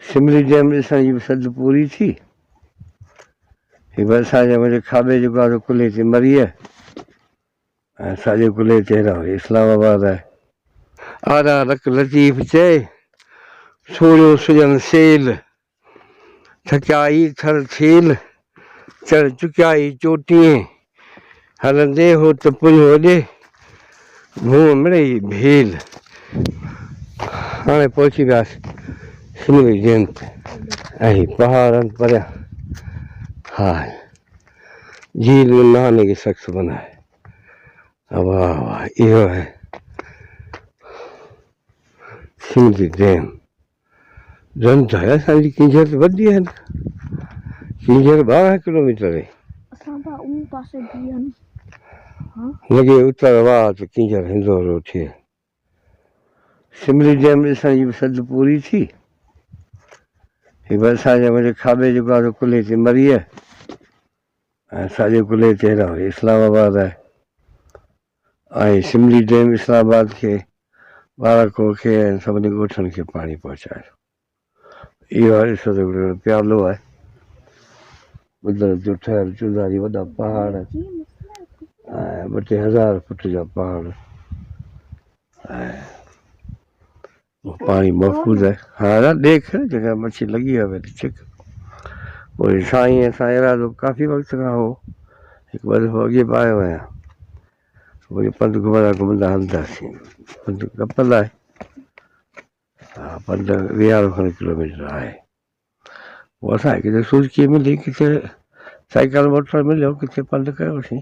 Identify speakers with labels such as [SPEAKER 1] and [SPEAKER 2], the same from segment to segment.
[SPEAKER 1] Summary dam ڏسڻ جي به سڌ پوري ٿي. هي ڀرسان جي وڏي کاٻي جيڪو آهي قلعي تي مريء ۽ ساڄي قلعي تي هيڏانهن ويهي اسلام آباد آهي. آرا رڪ لطيف چئي، سوڙهيو سڄڻ سيل، ٿڪيا ئي ٿر ٿيل. چڙ چڪيائي چوٽينء، هلندي هو ته پريون وڏي ڀونء مڙئي ڀيل. هاڻي پهچي وياس سنوري ڊيم تي ۽ پهاڙن پريان ها جھيل ۾ نهانے ڪي سخت بنا هي. واه واه اهو هي سنوري ڊيم. ڌن ڌايا اسان جي ڪينجهر ته ٻڌي آهي نه ڪينجهر ٻارهن ڪلوميٽر آهي اسان ته ان پاسي بيهن ها لڳي اتر واه ته ڪينجهر هندور اٿي آهي سملي ڊيم ڏسڻ جي به سڌ پوري ٿي هي به اسان جي وڏي کاٻي جيڪو آهي سو ڪلهي تي مري آهي ۽ ساڄي ڪلهي تي هيڏانهن اسلام آباد آهي آهي سملي ڊيم اسلام آباد کي ٻارهن ڪو کي ۽ سڀني ڳوٺن کي پاڻي پهچائي ٿو اهو هر عشق جو ڏيڻ پيالو آهي قدرت جو ٺهيل چوڌاري وڏا پهاڙ ۽ ٻه ٽي هزار فوٽ جا پهاڙ ۽ پاڻي محفوظ آهي ها ها ڏيک جيڪا مڇي لڳي آهي وري ڇڪ پوء سائين اسان ارادو ڪافي وقت کان هو هڪ ٻه دفعو اڳي به آيو آهيان وڃي پنڌ گهمندا گهمندا هلنداسين پنڌ ڪپل آهي ها پنڌ ويهارو کن ڪلوميٽر آهي پوء اسان کي ڪٿي سوجڪي ملي ڪٿي سائيڪل موٽر مليو ڪٿي پنڌ ڪيوسين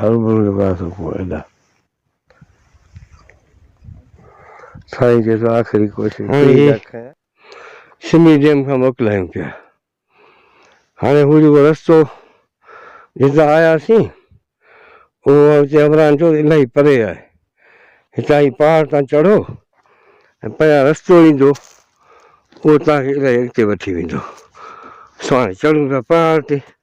[SPEAKER 1] هر ملڪ ۾ آهي سڪون ادا. سائين چي ٿو آخري ڪوشش هاڻي هي سمي ڊيم کان موڪلايون پيا هاڻي هو جيڪو رستو جتان آياسين اهو هتي عمران چيو الائي پري آهي هتان هي پهاڙ تان چڙهو ۽ پيا رستو ايندو اهو توهان کي الائي اڳتي وٺي ويندو سو هاڻي چڙهون پيا پهاڙ تي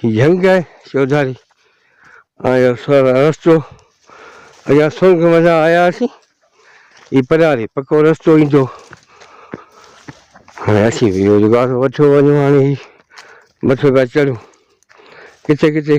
[SPEAKER 1] هي جهنگ آهي چوڌاري آيو سر رستو ايا سونگ مزا آيا سي هي پراري پڪو رستو ايندو هاڻي اسين به روزگار وٺو وڃو هاڻي مٿو پيا چڙهون ڪٿي ڪٿي